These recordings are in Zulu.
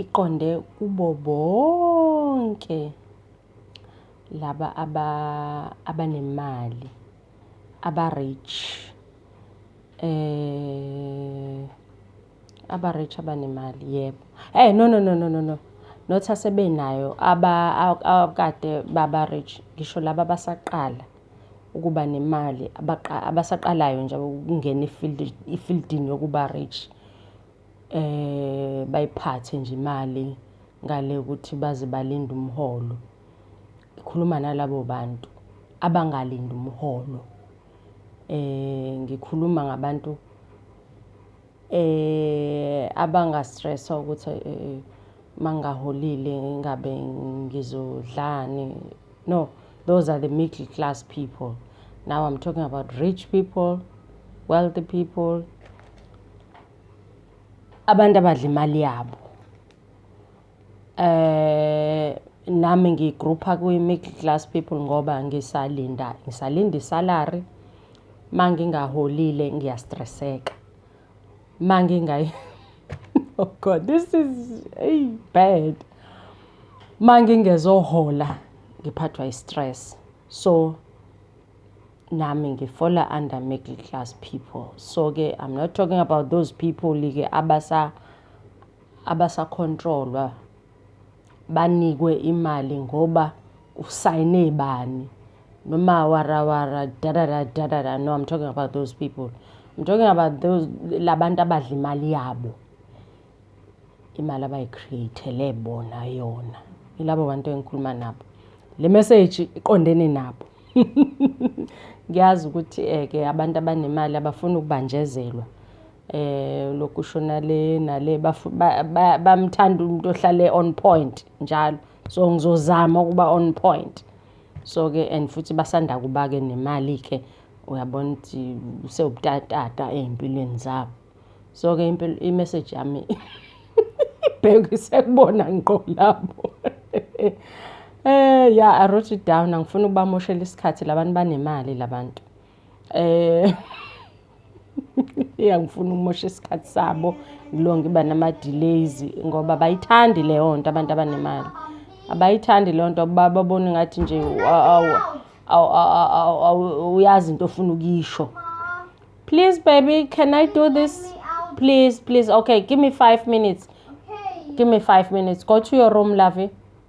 iqonde kubo bonke laba abanemali aba-rich aba-rich abanemali yebo. Eyi no no no no no no not asebenayo abakade baba-rich ngisho laba abasaqala. ukuba nemali abasaqalayo nje ukungena efieldini yokuba rich um bayiphathe nje imali ngale ukuthi baze balinde umholo. Ngikhuluma nalabo bantu abangalindi umholo. Ngikhuluma ngabantu Eh abanga stress ukuthi eh, eh, mangaholile ngingabe ngizodlani. No, those are the middle class people. Now I'm talking about rich people, wealthy people. Abantu abadla imali yabo. Eh nami ngigrouper kwi-middle class people ngoba ngisalinda ngisalinda i-salary, uma ngingaholile ngiyastresseka. Uma oh God this is eyi bad. Uma ngingezohola ngiphathwa i-stress. So nami ngifola under middle class people. So-ke I'm not talking about those people-ke abasa abasakhontrolwa banikwe imali ngoba usayine bani noma warawara dadada dadada no i'm talking about those people i'm talking about those labantu abadla imali yabo imali abayicreatele bona yona ilabo bantu engikhuluma nabo le message iqondene nabo ngiyazi ukuthi eke eh, abantu abanemali abafuni ukubanjezelwa eh lokusho nale nale bamthanda umuntu ohlale on point njalo so ngizozama ukuba on point so ke and futhi basanda kuba ke nemali ke uyabona ukuthi sewubutatata ezimpilweni zabo so ke impilo i message yami bheki sekubona ngqo lapho eh ya i wrote it down angifuni ukubamoshela isikhathi labantu banemali labantu eh Eyi angifuni ukumosha isikhathi sabo ngilonge iba nama-delays ngoba abayithandi leyo nto abantu abanemali. Abayithandi leyo nto babona engathi nje awuyazi into ofuna ukuyisho. Please baby can I do this? Please please okay give me five minutes, give me five minutes go to your room lovey.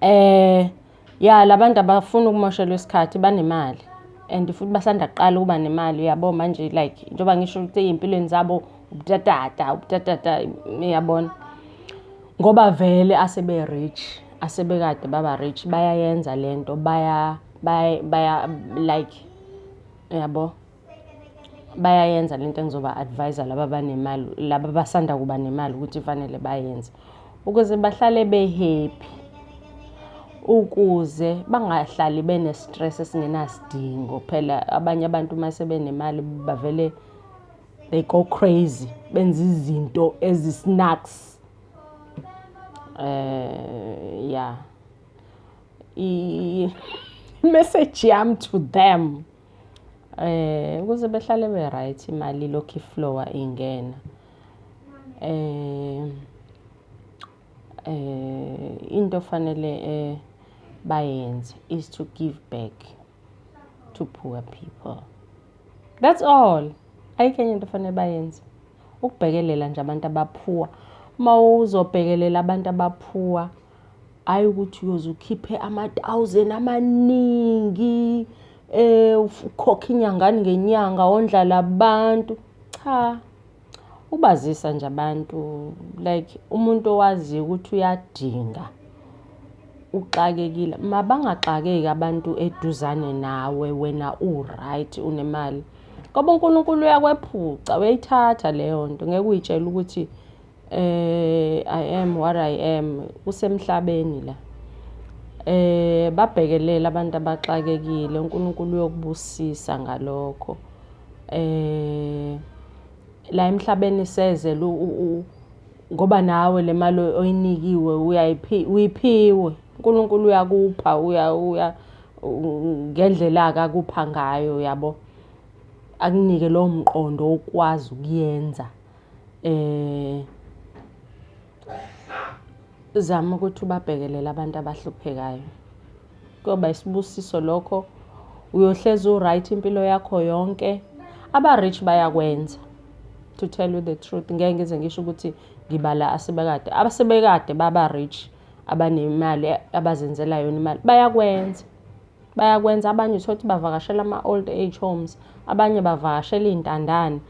Eh ya labantu abafuni ukumoshelwa isikhathi banemali and futhi basanda kuqala ukuba nemali uyabo manje like njengoba ngisho ukuthi ey'mpilweni zabo ubutata ubutata uyabona ngoba vele asebe-rich asebekade baba-rich bayayenza le nto baya baya baya like uyabo. bayayenza lento engizoba advise laba banemali laba basanda kuba nemali ukuthi fanele bayenze ukuze bahlale behappy ukuze bangahlali bene stress esingenasidingo phela abanye abantu uma sebenemali bavele they go crazy benza izinto ezisnacks eh yeah i message yam to them Eh ukuze behlale be right imali lokhu iflowa ingena. Eh eh into fanele eh bayenze is to give back to poor people. That's all. Ayikho enye into fanele bayenze. Ukubhekelela nje abantu abaphuwa. Uma uzobhekelela abantu abaphuwa hhayi ukuthi uyoze ukhiphe ama-thousand amaningi um ukhokhe inyangani ngenyanga wondla labantu cha ubazisa nje abantu like umuntu owaziyo ukuthi uyadinga uxakekile mabangaxakeki abantu eduzane nawe wena u-right unemali ngoba uNkulunkulu uyakwephuca uyayithatha leyo nto ngeke uyitshele ukuthi eh i am what i am kusemhlabeni la eh babhekelela abantu abaxakekile uNkulunkulu uyokubusisa ngalokho eh la emhlabeni sezele ngoba nawe le mali oyinikiwe uyayiphi uyiphiwe uNkulunkulu uyakupha uya uya ngendlela akakupha ngayo yabo akunike lowo mqondo okwazi ukuyenza um zama ukuthi ubabhekelele abantu abahluphekayo. Kuyoba isibusiso lokho, uyohlezi u-right impilo yakho yonke. Aba-rich bayakwenza, to tell you the truth. Ngeke ngize ngisho ukuthi ngibala asebekade. Abasebekade baba-rich, abanemali abazenzela yona imali, bayakwenza. Bayakwenza, abanye uthole ukuthi bavakashela ama-old age homes, abanye bavakashela iy'ntandane.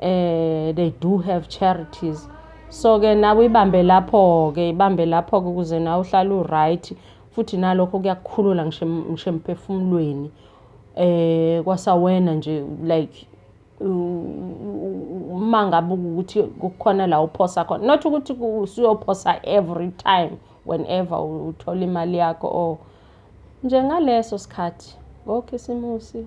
eh they do have charities so ke nawe ibambe lapho ke ibambe lapho ke ukuze nawe uhlale uright futhi nalokho kuyakukhulula ngisho ngisho emphefumulweni eh kwasawena nje like uma ngabe ukuthi kukhona la uphosa khona not ukuthi usuyophosa every time whenever uthola imali yakho or njengaleso sikhathi ngokhisimusi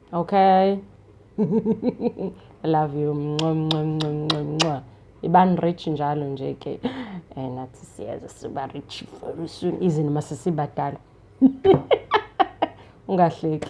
Okay. I love you. Mncwa mncwa mncwa mncwa mncwa. Iban rich njalo nje ke. Eh nathi siyazi siba rich very soon izini masisibadala. Ungahleki.